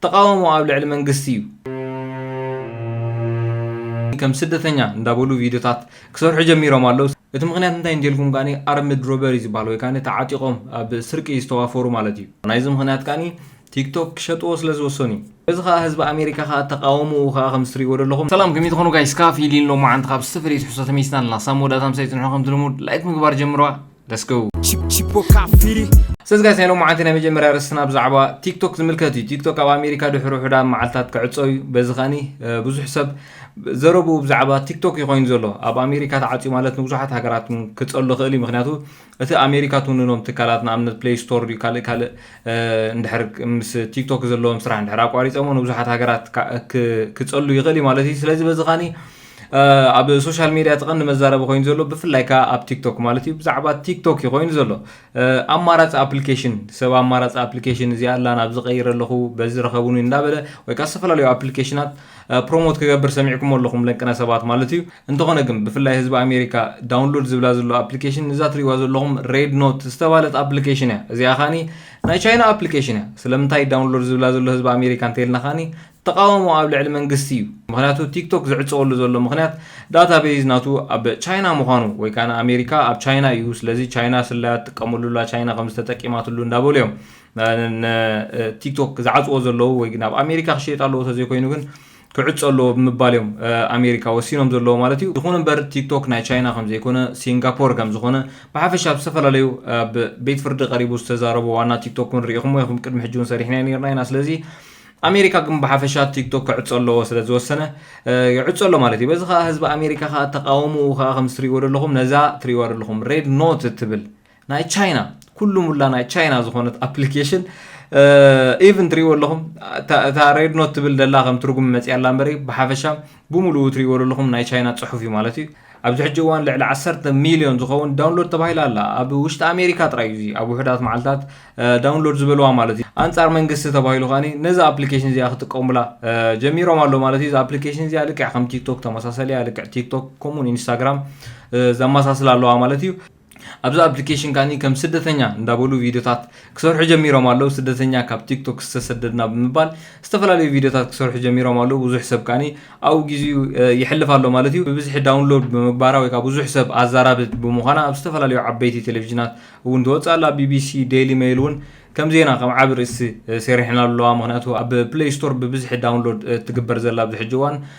ተቃውሞ ኣብ ልዕሊ መንግስቲ እዩ። ከም ስደተኛ እንዳበሉ ቪድዮታት ክሰርሑ ጀሚሮም ኣለው። እቲ ምኽንያት እንታይ እንተልኩም ከኣ ኣርምድ ሮበሪ ዝበሃል ወይ ከኣ ተዓጢቖም ኣብ ስርቂ ዝተዋፈሩ ማለት እዩ። ናይዚ ምኽንያት ከኣ ቲክቶክ ክሸጥዎ ስለ ዝወሰኑ እዩ። በዚ ከኣ ህዝቢ ኣሜሪካ ከኣ ተቃውሞኡ ከኣ ከምዚ ትርእይዎ ዘለኹም። ሰላም ከመይ ትኾኑ ጋይስ ካፊሊን ሎማዓንቲ ካብ ዝተፈለየ ትሕዝቶ ተመሊስና ኣለና ሳብ መወዳእታ ምሳይ ፅንሑ ከምቲ ልሙድ ላይክ ምግባር ጀምርዋ። Let's go! ስለዚ ጋይስ ናይ ሎማዓንቲ ናይ መጀመርያ ርስትና ብዛዕባ ቲክቶክ ዝምልከት እዩ ቲክቶክ ኣብ ኣሜሪካ ድሕሪ ውሕዳ መዓልትታት ክዕፆ እዩ በዚ ከኒ ብዙሕ ሰብ ዘረብኡ ብዛዕባ ቲክቶክ እዩ ኮይኑ ዘሎ ኣብ ኣሜሪካ ተዓፅዩ ማለት ንብዙሓት ሃገራት ክፀሉ ክእል እዩ ምክንያቱ እቲ ኣሜሪካ ትውንኖም ትካላት ንኣብነት ፕሌይ ስቶር ዩ ካልእ ካልእ እንድሕር ምስ ቲክቶክ ዘለዎም ስራሕ እንድሕር ኣቋሪፆሞ ንብዙሓት ሃገራት ክፀሉ ይኽእል እዩ ማለት እዩ ስለዚ በዚ ከኒ ኣብ ሶሻል ሜድያ እቲ ቀንዲ መዛረቢ ኮይኑ ዘሎ ብፍላይ ከዓ ኣብ ቲክቶክ ማለት እዩ ብዛዕባ ቲክቶክ እዩ ኮይኑ ዘሎ ኣማራፂ ኣፕሊኬሽን ሰብ ኣማራፂ ኣፕሊኬሽን እዚኣ ኣላ ናብ ዝቀይረ ኣለኹ በዚ ረኸቡኒ እንዳበለ ወይ ከዓ ዝተፈላለዩ ኣፕሊኬሽናት ፕሮሞት ክገብር ሰሚዕኩም ኣለኹም ለንቅነ ሰባት ማለት እዩ እንተኾነ ግን ብፍላይ ህዝቢ ኣሜሪካ ዳውንሎድ ዝብላ ዘሎ ኣፕሊኬሽን እዛ ትሪእዋ ዘለኹም ሬድ ኖት ዝተባለት ኣፕሊኬሽን እያ እዚኣ ካኒ ናይ ቻይና ኣፕሊኬሽን እያ ስለምንታይ ዳውንሎድ ዝብላ ዘሎ ህዝቢ ኣሜሪካ እንተይልና ካኒ ተቓውሞ ኣብ ልዕሊ መንግስቲ እዩ፣ ምኽንያቱ ቲክቶክ ዝዕጸወሉ ዘሎ ምኽንያት ዳታ ቤዝ ናቱ ኣብ ቻይና ምዃኑ ወይ ከኣ ንኣሜሪካ ኣብ ቻይና እዩ፣ ስለዚ ቻይና ስለያ ትጥቀመሉ ኣላ፣ ቻይና ከምዚ ተጠቂማትሉ እንዳበሉ እዮም ንቲክቶክ ዝዓጽዎ ዘለዉ ወይ ናብ ኣሜሪካ ክሽየጥ ኣለዎ ተዘይኮይኑ ግን ክዕጾ ኣለዎ ብምባል እዮም ኣሜሪካ ወሲኖም ዘለዉ ማለት እዩ። ይኹን እምበር ቲክቶክ ናይ ቻይና ከምዘይኮነ ሲንጋፖር ከምዝኾነ ብሓፈሻ ኣብ ዝተፈላለዩ ኣብ ቤት ፍርዲ ቀሪቡ ዝተዛረቦ ዋና ቲክቶክ እውን ርኢኹሞ ኢኹም ቅድሚ ሕጂ እውን ሰሪሕናዮ ኔርና ኢና ስለዚ ኣሜሪካ ግን ብሓፈሻ ቲክቶክ ክዕጾ ኣለዎ ስለ ዝወሰነ ይዕጾ ኣሎ ማለት እዩ በዚ ከዓ ህዝቢ ኣሜሪካ ከዓ ተቃወምኡ ከዓ ከምስ ትሪእዎ ዘለኹም ነዛ ትሪእዋ ዘለኹም ሬድ ኖት እትብል ናይ ቻይና ኩሉ ሙላ ናይ ቻይና ዝኾነት ኣፕሊኬሽን ኢቭን ትሪእዎ ኣለኹም እታ ሬድ ኖት ትብል ደላ ከም ትርጉም መፅያ ኣላ እምበሪ ብሓፈሻ ብሙሉኡ ትሪእዎ ለለኹም ናይ ቻይና ፅሑፍ እዩ ማለት እዩ። ኣብዚ ሕጂ እዋን ልዕሊ ዓሰርተ ሚልዮን ዝኸውን ዳውንሎድ ተባሂላ ኣላ። ኣብ ውሽጢ ኣሜሪካ ጥራይ እዩ እዚ ኣብ ውሑዳት መዓልታት ዳውንሎድ ዝበልዋ ማለት እዩ። ኣንጻር መንግስቲ ተባሂሉ ከኣ ነዛ ኣፕሊኬሽን እዚኣ ክጥቀሙላ ጀሚሮም ኣለው ማለት እዩ። እዛ ኣፕሊኬሽን እዚኣ ልክዕ ከም ቲክቶክ ተመሳሳሊ እያ። ልክዕ ቲክቶክ ከምኡውን ኢንስታግራም ዘመሳስላ ኣለዋ ማለት እዩ። ኣብዛ ኣፕሊኬሽን ከኣ ከም ስደተኛ እንዳበሉ ቪድዮታት ክሰርሑ ጀሚሮም ኣለው። ስደተኛ ካብ ቲክቶክ ዝተሰደድና ብምባል ዝተፈላለዩ ቪድዮታት ክሰርሑ ጀሚሮም ኣለው። ብዙሕ ሰብ ከኣ ኣብኡ ግዜኡ የሕልፍ ኣሎ ማለት እዩ። ብብዝሒ ዳውንሎድ ብምግባራ ወይ ከኣ ብዙሕ ሰብ ኣዛራብት ብምዃና ኣብ ዝተፈላለዩ ዓበይቲ ቴሌቪዥናት እውን ትወጽእ ኣላ። ቢቢሲ፣ ደይሊ መይል እውን ከም ዜና ከም ዓቢ ርእሲ ሰሪሐናሉ ኣለዋ። ምኽንያቱ ኣብ ፕለይ ስቶር ብብዝሒ ዳውንሎድ እትግበር ዘላ ኣብዚ ሕጂ እዋን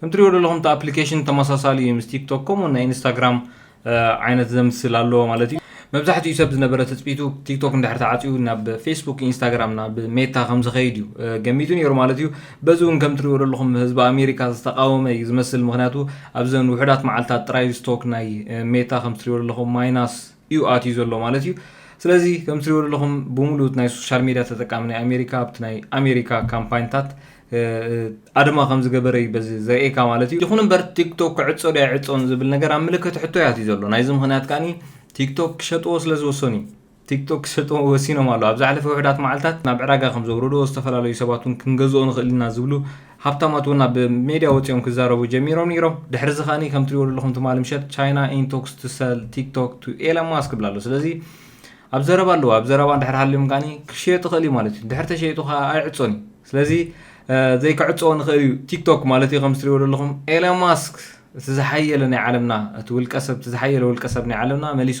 ከም ትሪኦ ዘለኹም እቲ ኣፕሊኬሽን ተመሳሳሊ እዩ ምስ ቲክቶክ ከምኡ ናይ ኢንስታግራም ዓይነት ዘምስል ኣለዎ ማለት እዩ መብዛሕትኡ ሰብ ዝነበረ ትፅቢቱ ቲክቶክ እንድሕር ተዓፅዩ ናብ ፌስቡክ ኢንስታግራም ናብ ሜታ ከም ዝኸይድ እዩ ገሚቱ ነይሩ ማለት እዩ በዚ እውን ከም ትሪኦ ዘለኹም ህዝቢ ኣሜሪካ ዝተቃወመ እዩ ዝመስል ምክንያቱ ኣብዘን ውሑዳት መዓልትታት ጥራይ ስቶክ ናይ ሜታ ከም ትሪኦ ዘለኹም ማይናስ እዩ ኣትዩ ዘሎ ማለት እዩ ስለዚ ከም ትሪኦ ዘለኹም ብምሉእ ናይ ሶሻል ሚድያ ተጠቃሚ ናይ ኣሜሪካ ኣብቲ ናይ ኣሜሪካ ካምፓይንታት ኣድማ ከም ዝገበረ እዩ በዚ ዘርእየካ ማለት እዩ ይኹን እምበር ቲክቶክ ክዕፆ ዶ ኣይዕፆን ዝብል ነገር ኣብ ምልክት ሕቶ ያት እዩ ዘሎ ናይዚ ምክንያት ከዓኒ ቲክቶክ ክሸጥዎ ስለ ዝወሰኑ እዩ ቲክቶክ ክሸጥዎ ወሲኖም ኣሎ ኣብ ዝሓለፈ ውሕዳት መዓልትታት ናብ ዕዳጋ ከም ዘውረድዎ ዝተፈላለዩ ሰባት እውን ክንገዝኦ ንኽእል ኢና ዝብሉ ሃብታማት እውን ኣብ ሜድያ ወጺኦም ክዛረቡ ጀሚሮም ነይሮም። ድሕሪ እዚ ከኣ ከም ትሪእዎ ዘለኹም ትማሊ ምሸት ቻይና ኢን ቶክስ ቱ ሰል ቲክቶክ ቱ ኤለን ማስክ ይብላ ኣሎ። ስለዚ ኣብ ዘረባ ኣለዎ። ኣብ ዘረባ እንድሕር ሃልዮም ከኣ ክሸየጥ ይኽእል እዩ ማለት እዩ። ድሕር ተሸይጡ ከኣ ኣይዕጾን እዩ። ስለዚ ዘይክዕጾ ንኽእል እዩ ቲክቶክ ማለት እዩ። ከም ትሪእዎ ዘለኹም ኤለን ማስክ እቲ ዝሓየለ ናይ ዓለምና እቲ ውልቀ ሰብ እቲ ዝሓየለ ውልቀ ሰብ ናይ ዓለምና መሊሱ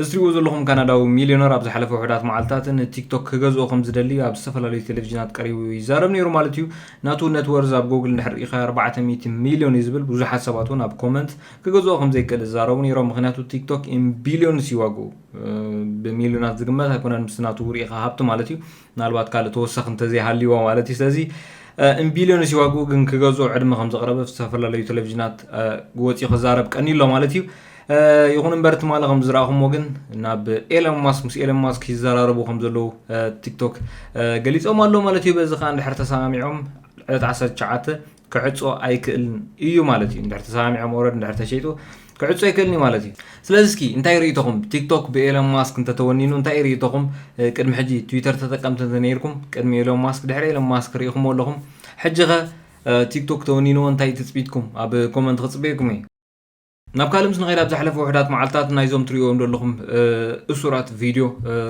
እዚ ትሪእዎ ዘለኹም ካናዳዊ ሚልዮነር ኣብ ዝሓለፈ ውሑዳት መዓልትታት ንቲክቶክ ክገዝኦ ከም ዝደሊ ኣብ ዝተፈላለዩ ቴሌቪዥናት ቀሪቡ ይዛረብ ነይሩ ማለት እዩ ናቱ ነትወርዝ ኣብ ጎግል እንድሕር ርኢኻ 400 ሚልዮን እዩ ዝብል ብዙሓት ሰባት እውን ኣብ ኮመንት ክገዝኦ ከም ዘይክእል ዝዛረቡ ነይሮም ምክንያቱ ቲክቶክ ቢልዮንስ ይዋግኡ ብሚልዮናት ዝግመት ኣይኮነን ምስ ናቱ ርኢኻ ሃብቲ ማለት እዩ ምናልባት ካልእ ተወሳኺ እንተዘይሃልዩዎ ማለት እዩ ስለዚ እምቢልዮንስ እዩ ዋግኡ ግን ክገዝኦ ዕድመ ከም ዘቕረበ ኣብ ዝተፈላለዩ ቴሌቭዥናት ወፂኡ ክዛረብ ቀኒ ኣሎ ማለት እዩ ይኹን እምበር ትማሊ ከም ዝረኣኹሞ ግን ናብ ኤለን ማስክ ምስ ኤለን ማስክ ይዘራረቡ ከም ዘለዉ ቲክቶክ ገሊፆም ኣሎ ማለት እዩ በዚ ከዓ እንድሕር ተሰማሚዖም ዕለት 19 ክዕጾ ኣይክእልን ኢዩ ማለት ኢዩ እንድሕር ተሰማሚዖም ኦረድ እንድሕር ተሸይጡ ክዕጾ ኣይክእልን ኢዩ ማለት ኢዩ ስለዚ እስኪ እንታይ ርእይቶኹም ቲክቶክ ብኤሎን ማስክ እንተተወኒኑ እንታይ ርእይቶኹም ቅድሚ ሕጂ ትዊተር ተጠቀምቲ እንተነይርኩም ቅድሚ ኤሎን ማስክ ድሕሪ ኤሎን ማስክ ርኢኹሞ ኣለኹም ሕጂ ኸ ቲክቶክ ተወኒንዎ እንታይ ትጽቢትኩም ኣብ ኮመንት ክጽበየኩም እየ ናብ ካልእ ምስ ንኸይድ ኣብ ዝሓለፈ ውሕዳት መዓልትታት ናይዞም ትርእዎም ዘለኹም እሱራት ቪድዮ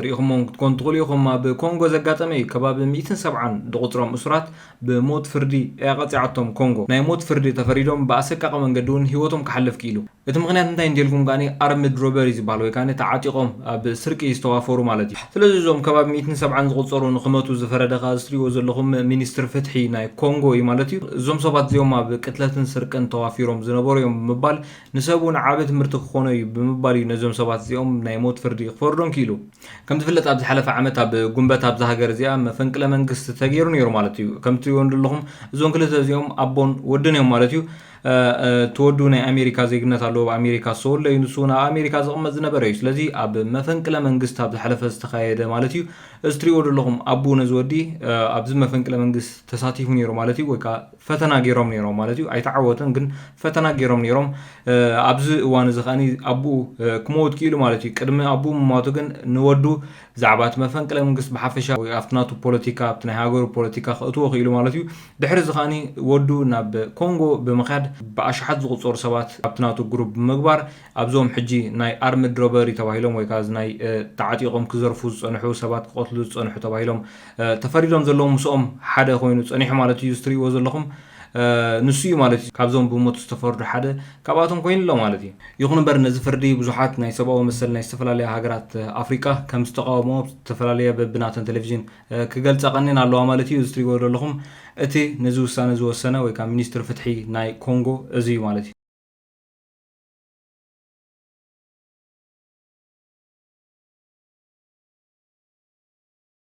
ርኢኹሞም ክትኮኑ ትኽእሉ ኢኹም ኣብ ኮንጎ ዘጋጠመ እዩ ከባቢ ሚእትን ሰብዓን ድቑፅሮም እሱራት ብሞት ፍርዲ እያ ቀፂዓቶም ኮንጎ ናይ ሞት ፍርዲ ተፈሪዶም ብኣሰቃቒ መንገዲ እውን ህይወቶም ክሓልፍ ክኢሉ እቲ ምኽንያት እንታይ እንተልኩም ከኣ ኣርምድ ሮበሪ ዝበሃል ወይ ከኣ ተዓጢቖም ኣብ ስርቂ ዝተዋፈሩ ማለት እዩ። ስለዚ እዞም ካብ ኣብ ሚእትን ሰብዓን ዝቑጸሩ ንኽመቱ ዝፈረደ ከኣ እዚ ትሪእዎ ዘለኹም ሚኒስትሪ ፍትሒ ናይ ኮንጎ እዩ ማለት እዩ። እዞም ሰባት እዚኦም ኣብ ቅትለትን ስርቅን ተዋፊሮም ዝነበሩ እዮም ብምባል ንሰብ እውን ዓቢ ትምህርቲ ክኾኖ እዩ ብምባል እዩ ነዞም ሰባት እዚኦም ናይ ሞት ፍርዲ ክፈርዶም ክኢሉ። ከም ዝፍለጥ ኣብ ዝሓለፈ ዓመት ኣብ ጉንበት ኣብዛ ሃገር እዚኣ መፈንቅለ መንግስቲ ተገይሩ ነይሩ ማለት እዩ። ከም ትሪእዎ ንደለኹም እዞም ክልተ እዚኦም ኣቦን ወድን እዮም ማለት እዩ። እቲ ወዱ ናይ ኣሜሪካ ዜግነት ኣለዎ ኣብ ኣሜሪካ ዝተወልደ እዩ ንሱ እውን ኣብ ኣሜሪካ ዝቕመጥ ዝነበረ እዩ ስለዚ ኣብ መፈንቅለ መንግስት ኣብ ዝሓለፈ ዝተኻየደ ማለት እዩ እዚ ትሪእዎ ዘለኹም ኣቡ ነዚ ወዲ ኣብዚ መፈንቅለ መንግስት ተሳቲፉ ነይሩ ማለት እዩ ወይ ከዓ ፈተና ገይሮም ነይሮም ማለት እዩ ኣይተዓወተን ግን ፈተና ገይሮም ነይሮም ኣብዚ እዋን እዚ ከዓኒ ኣቡኡ ክመውት ክኢሉ ማለት እዩ ቅድሚ ኣቡኡ ምሟቱ ግን ንወዱ ብዛዕባ እቲ መፈንቅለ መንግስቲ ብሓፈሻ ወይ ኣብቲ ናቱ ፖለቲካ ኣብቲ ናይ ሃገሩ ፖለቲካ ከእትዎ ክኢሉ ማለት እዩ። ድሕሪ እዚ ከኣ ወዱ ናብ ኮንጎ ብምካድ ብኣሽሓት ዝቁጸሩ ሰባት ኣብቲ ናቱ ግሩብ ብምግባር ኣብዞም ሕጂ ናይ ኣርምድ ሮበሪ ተባሂሎም ወይ ከኣ እዚ ናይ ተዓጢቆም ክዘርፉ ዝጸንሑ ሰባት ክቀትሉ ዝጸንሑ ተባሂሎም ተፈሪዶም ዘለዉ ምስኦም ሓደ ኮይኑ ጸኒሑ ማለት እዩ እዚ ትርእይዎ ዘለኹም ንሱ እዩ ማለት እዩ ካብዞም ብሞት ዝተፈርዱ ሓደ ካብኣቶም ኮይኑ ኣሎ ማለት እዩ። ይኹን እምበር ነዚ ፍርዲ ብዙሓት ናይ ሰብኣዊ መሰል ናይ ዝተፈላለያ ሃገራት ኣፍሪቃ ከም ዝተቓወምኦ ዝተፈላለያ በብናተን ተለቪዥን ክገልጻ ቀኒየን ኣለዋ ማለት እዩ። እዚ ትሪእዎ ዘለኹም እቲ ነዚ ውሳነ ዝወሰነ ወይ ከኣ ሚኒስትሪ ፍትሒ ናይ ኮንጎ እዚ እዩ ማለት እዩ።